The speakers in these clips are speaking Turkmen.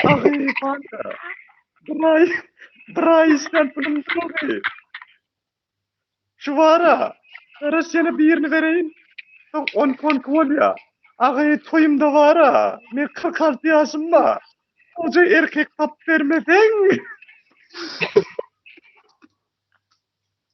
Ahy, kanka. Bir ay, bir ay işlän pulum durdy. Şu bara, garaş ýene birini bereýin. Soň on konki bolýa. Ahy, toýumda bara, men 46 ýaşymda. Goja erkek tapyp bermeseň.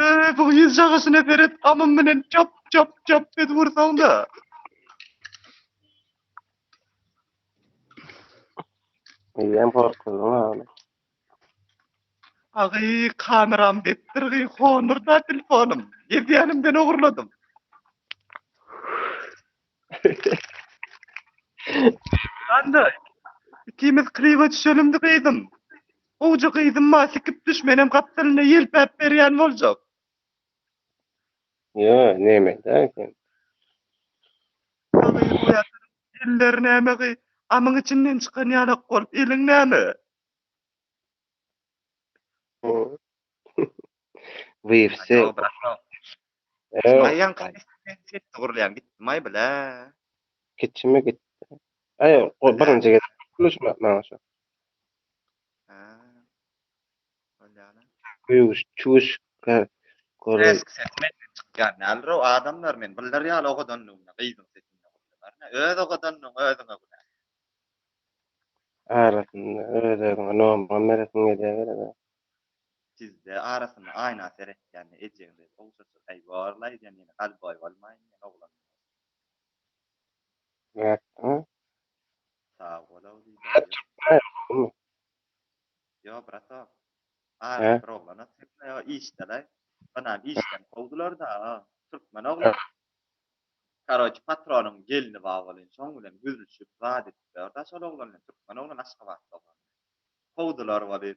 Eee, bu ýüz jagasyna beret gamym bilen çap çap çap edip ursaň-da. Eýýäm gorkuzyň ýaly. Agy kameram depdir gy honurda telefonym. Edýänimden ogurladym. Handa, ikimiz kliba düşelimdi gyzym. Gowja gyzym maňa sikip düş, menem gapdalynda ýelpäp berýän boljak. Ýa, näme-dä sen. Gyz oýadyr, elleri näme gyz, amyň içinden çykan ýalak bolup, eliň näme? Wifse. Maý ýaňky sesli gurulýan gitdi maý bilä. Kiçimi gitdi. Aý o birinji gezek gurluşmak maňa şu. Ha. Bolýana. Güýç çüş ka gurul. Eski ses menden çykýan däldir o adamlar men biller ýaly ogadanlygymda gyzyň sesinde gurly barna öz ogadanlygyň özüňe günä. Arasynda öz özüňe nomuna beresiň gelýä gerek. Sizde arasynda aýna seretýände ejeň dek ogşaşyr äý borly aýdýan ýene galboý bolmaýyn diýen oglan bolsun. Nätdiňmi? Sag bol ogly Brat çykmaýa gowymy? Ýo bratok. Arada bir oglana çykmaýa o işdelaý. Onam işden kowdularda a türkmen oglan. Karoçi patronyň gelni bar welin şoň bilen gürlüşip zat edip ýör da şol oglan bilen türkmen oglan aşgabatly oglan. Kowdular weli,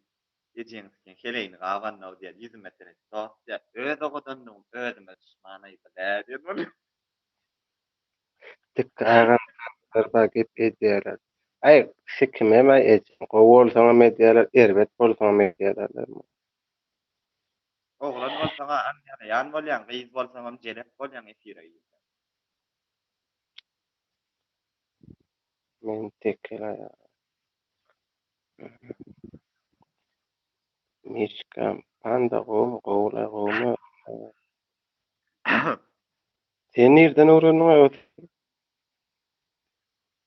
ejeňizikiň heleýini gabandyň-ow diýen ýüzüme seredip sorapdy ýa öz owadandygym özüme duşmana bile diýen bolýar. Dikge agam gyrp-gyrpa gep edýäler. Aý, kişi kimem-aý ejeň gowy bolsaňam edýäler, erbet bolsaňam edýäler diýen bolýar. Oglan bolsaň-a aňýalaýan bolýaň, gyz bolsaňam jelep bolýaň efire girseň. Men tekil aýal. Miska panda gowumy gowula gowumy sen nirden öwrendiň özi.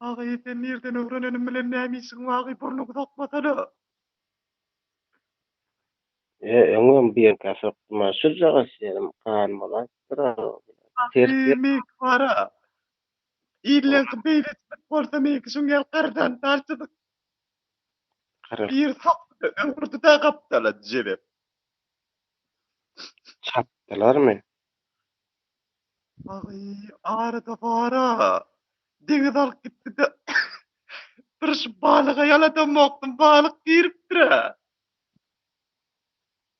Agy sen nirden öwrenenim bilen näme işiň agy burnuňy sokmasana. Ýe öňem birka sokdum a şujagaz ýerim gan bolansydyr a. Agy mink bara. Illerdi beýle etmek bolsa meňki şuň ýaly gardan darçydyk. Biri sokdy-da, öwürdi-de gapdala dijelip. Çapdylarmy? Aý, arada bar-a. Deňiz alyp gitdi-de. Bir şu balyga ýaladamokdym, balyk giripdir-ä.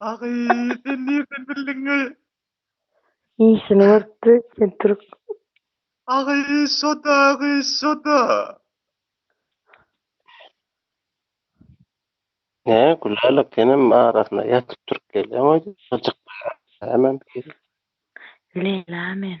Agy sen nirden bildiňi. Işini görüpdi sen türk. Agy şoda agy şoda. Hä Gülälek senem arasynda ýatyp turup gelýäň oýda. Gyjykmyş hemem hili. Leýla men.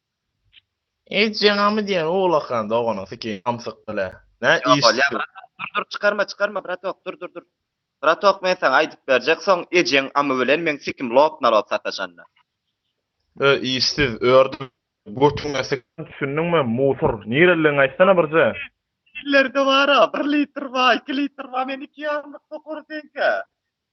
Eýtjeňňamy diýen owlakan doganyň sikiýin samsyk bile. Nä iş şu. Dur dur çykarma çykarma bratok dur dur dur. Bratok men saňa aýdyp berjek soň ejeň amy bilen meň sikim lop nalop sataşanda. Ö işsiz ördi götüňe sikin düşündiňmi musur nireligiňi aýtsana birje. Ellerde bara bir litr ba iki litr ba men iki ýarymlyk tokary seňkä.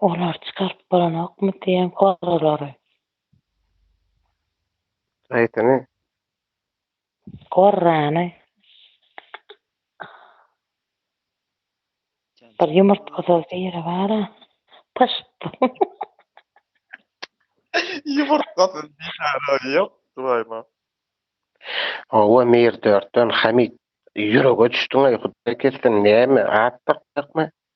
Olar çykaryp bolanokmy diýen gorralary. Haýsyny? Gorrany. Bir ýumurtgasyz biri bar-a. Pyşt. Ýumurtgasyz bihara ýok, Suhaýma. Hawa, Mir dörtden Hamit. Ýürege düşdüň-aý, Hudaý kessin, näme, at dakjakmy?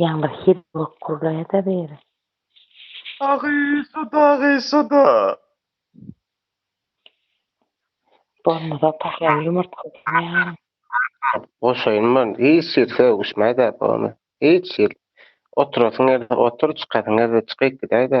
Ýaňy bir hit bolup gurlaýada biri. Agysa-da, agysa-da. Bolmasa pahyr ýumurtgasyny ýaryň. Goşaýyn men, hiç hili sögüşmäý-dä, pony. Hiç hili. Oturasyň gelse otur, çykasyň gelse çykyp gidäý-dä.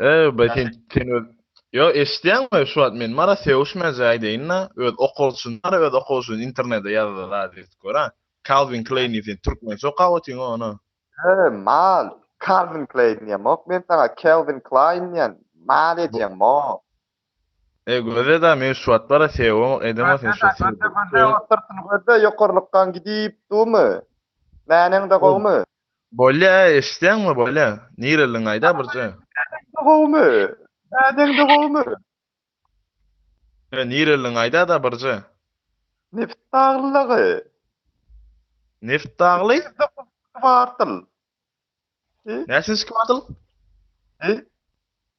Eý, be sen, sen öz Ýo, eşitýäňmi, şu wagt men Mara sögüşmäje aýdaýyn-da, öz okalşyny, Mara öz okalşyny internede ýazdy, zazet, gör-ä. Kalwin Kleýni sen türkmençe okap otyryn ony. He, mal, Kalwin Kleýn diýemok men saňa, Kelwin Klaýn diýen, mal edýäň, mol. Eý, göze-de, men şu wagt bar-a sögübemok, edemok sen şol seni. Göze-de, göze, ot syrtyny göze, ýokarlykkaň gidip durmy? Mäneň-de gowumy? Bolýa eşitýäňmi bolýa. Nireliň aýda birje. Dädeňde gowumy? Dädeňde gowumy? He nireliň aýdada birje. Nebit dagly dagy. Nebit dagly? Kwartal. Näçinji kwartal? He?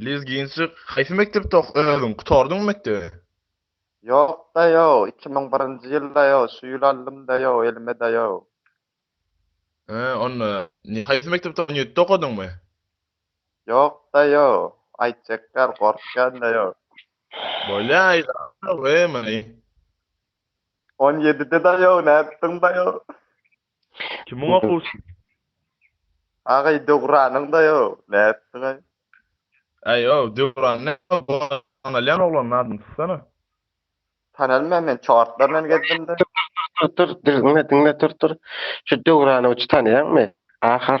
Lezginçik haýsy mekdepde ok özüň gutardyňmy mekdebi. Ýokda ýok iki müň birinji ýylda ýok şu ýyl aldymda ýok elimeda ýok. Hä onda ne haýsy mekdepde on ýedide okadyňmy. Ýokda ýok aýt çekýar gorkýanda ýok. Bolýa aýt agam ey many. On ýedideda ýok nätdiňda ýok. Kim muňa goşuldy? Agaý Döwranyň-da ýo, nätdiňaý? Äý ýo, Döwran näme boldy? Tanalýan oglanyň adyny tutsana. Tanalmaýan men çortlar bilen gezdim-de. Tur, tur, diňle, diňle, tur, tur. Şu Döwranowiçy tanaýaňmy? Ahar.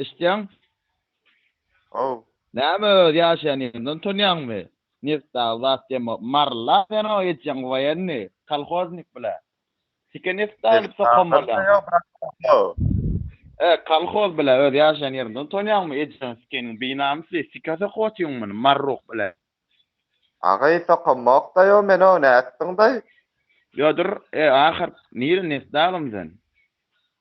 Eşitýäň? Haw. Näme öz ýaşaýan ýeriňden utanýaňmy? Neft dagy zat deme. Marla sen o etjeň waýenni, kolhoznik bile. Sike neft dagy edip sokan bolýaň. E, kolhoz bile öz ýaşaýan ýeriňden utanýaňmy? Etjeň sikeniň binamysy, sike sokup otyň muny, marruk bile. Agay sokamok daý o men o nätdiň daý. Ýo dur e ahyrk nire neft dagym sen.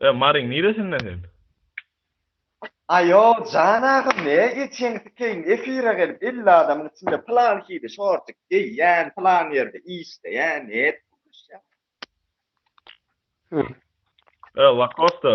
E Maryň niresinde sen? Aýo jan agam ne geçen sikeýin efire gelip elli adamyň içinde plan hili şortik geýýän plan ýerde işleýän nep gürleşýän. E Lakosta.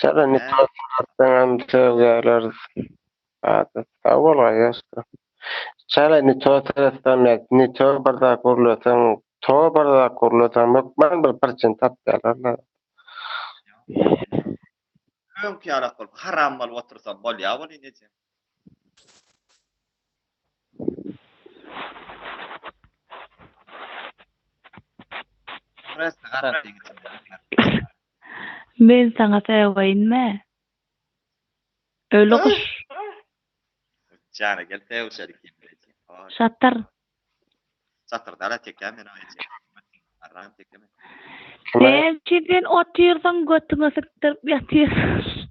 Çagany tosyňarsaňam söz geler zada sag bol aýaşka. Çala ne to seretseň ne to bir zat gurleseň to bir zat gurleseň hökman bir prçin tapýalar la. Öňki ýalak bolup haram bolup otursam bolýa weli nejem. Men saňa säwayinme. Öli gyş. Jana gel säwşer ikin bileje. Şatyr. Şatyr dala tekä men aýje. Arran tekä men. Sen kimden otyrsyň götüňe sikdirip ýatyrsyň.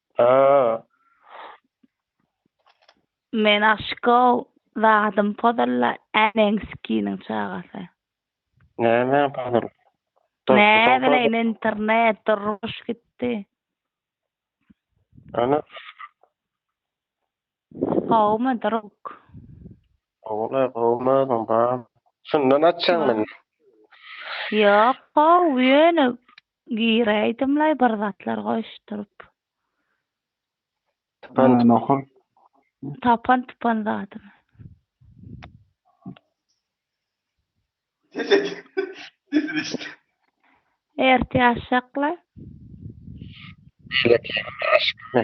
Aa. Men aşyk-ow, zadym pozulla, äneň sikiniň çagasy. Näme pozul? Näbileýin internet, durmuş gitdi. Ana. Gowumy druk. Gowumy gowumy özüň bar. Şundan açjaň meni. Ýok gowy ýöne giräýdimlaý bir zatlar goýuşdyryp. Tapan tupan. Tapan tupan zadymy. Ertýaşaklaý. Beýleki ýigit aşykmy.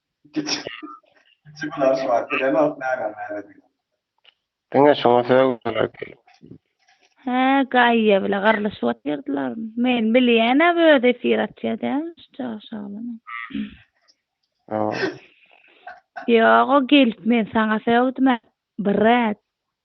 Diňe şuňa sögüler gelip. Hä Gaýýa bile gyrlyşyp otyrdylarmy? Men bilýänäm özi efir açýa dälmi şu çaga şalynyň. Ýok o gelip men saňa sögdüm-ä brat.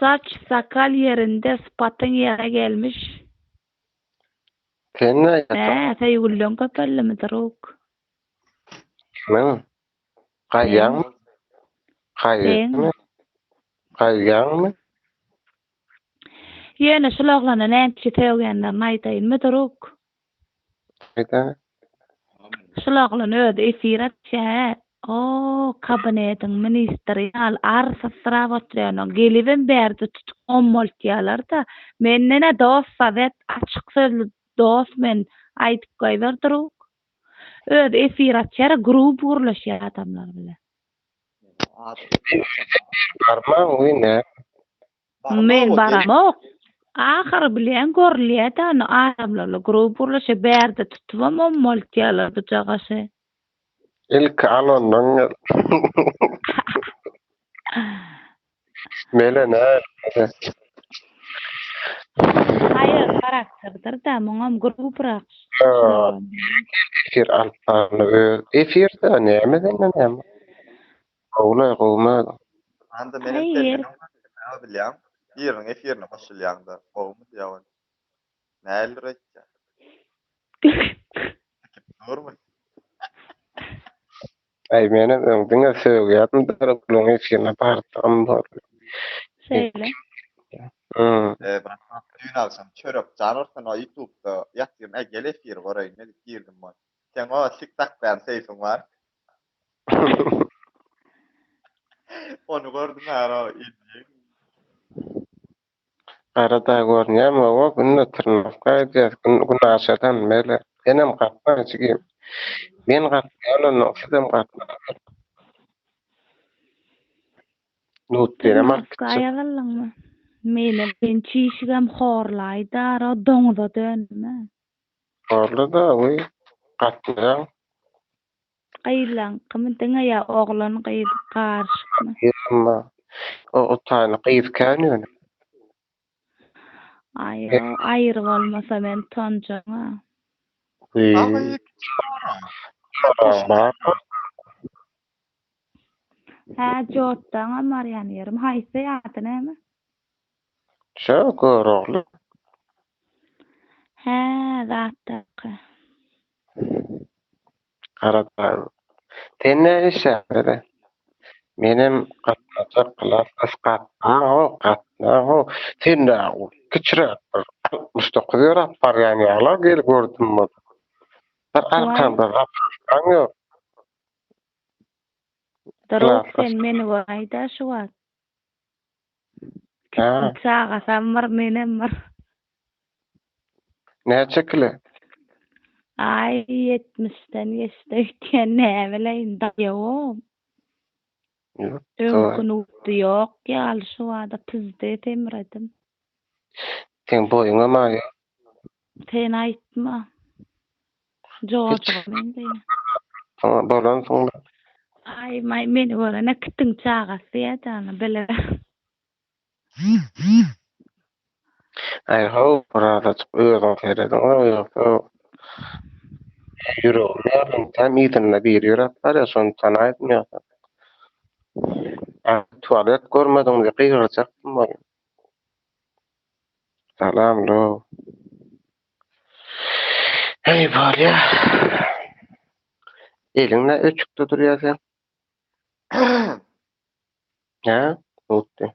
Saç sakal ýerinde sypatyň ýere gelmiş. Sen näýetin? Hä, söýgüliň köpeldimi, druk? Kimin? Gaýýaňmy? Gaýýaňmy? Gaýýaňmy? Ýöne şul oglana nätçi sögýänlerini aýdaýynmy, druk? Şulaglan özi efir açýaä o kabinediň ministri ýal arsysyrap oturýanoň gelibem bärde tutup ommaltýalarda mendena dos sowet açyk sözli dos men aýdyp goýber drug özi efir açýara gruby gürleşýär adamlar bilen. Men baramok. Ahyry bilen görülýä-dä ony adamlarla gurup gurluşy bärde tutubam ommaltýalar bu jagaşy. Ilki al ondan gel. Mele näl ede. Haýal harakterdir-dä muňam guruprak. Ýok. Efir alyp barly öz efir-dä näme senden näme. Gowulaý gowumy? Anda menem Haýyr. Selminiň sözüni bilýän biriniň efirine goşulýaňda gowumy diýäweri. Nähilidir aýtýa. Sikip durmy? Aý menem öň diňe sögýärdim Döwletgulyň efirine bardygym boldy. Şeýle. Ýa. Eee brat ýok düýn agşam çörek jan ursun o ýutubda ýatyryn äý gel efiri göreýin edip girdim wan. Seň o sik dakýan seýsiň bar. Ony gördüm ara ilki. Arada görünýärmi? Oba günde trnowka gidýäs. Gün günaşadan bäri. Senem gatna jigim. Men gatnaýan onnoň sizem gatnaň. Nutbirem alyp gitjek. Trnowka ýazylyňmy? Meni sen çişigem horlaýda ara doňuza dönme. Horla-da, wiý, gatnaýaň. gyzlaňkymy diňe ýa oglan gyz garyşykmy. Ýa-da o otany gyz kän ýöne. Aýo aýry bolmasa men tonjaňa. Aga ýekeje sorag. Sorag barmy? Hä jotdaňam barýan ýerim haýsy ady näme? Şo Görogly. Hä zatdaky. Garaşaýyn. Sen näme işleýäň dede? Menem gatnajak klas ysgatmaň-ow, gatnaň-ow. Sen-ä kiçiräk bir altmyş dokuz ýöräp barýan ýaly-a gel gördüm bolsa. Bir arkaňda zapaskaň ýok. Duruk sen meni goraý-da şu wagt. Hä. Çagasam bar, menem bar. Näçe kile? Aý, ýetmişden geçdi öýtýän, näbileýin, daýawam. Öňki nugty ýok ýaly, şobada pyzdy, semredim. Seň boýuňam aýa. Sen aýtma. Jojoga meňzeýär. Saňa dolan soňra. Aý maý meni görene kitiň çagasy ýa jana bile. Aý how bir azajyk özüň serediň a ýogsa ýüregim ýarylan kän yzynda biri ýöräp barýa şony tanaýdym ýogsa tualet görmediň diýip gygyrjakdym welin. Salam lo. Hey bolya. Eliňle öçükde durýar sen. Ha? Utdy.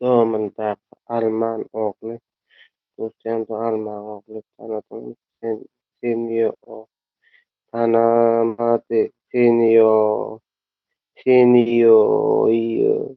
Domyndaky alman ogly Dutýanda alman ogly tanadyňmy sen seni ýo-o tanamady seni ýo-o seni ýo-o-ýo-o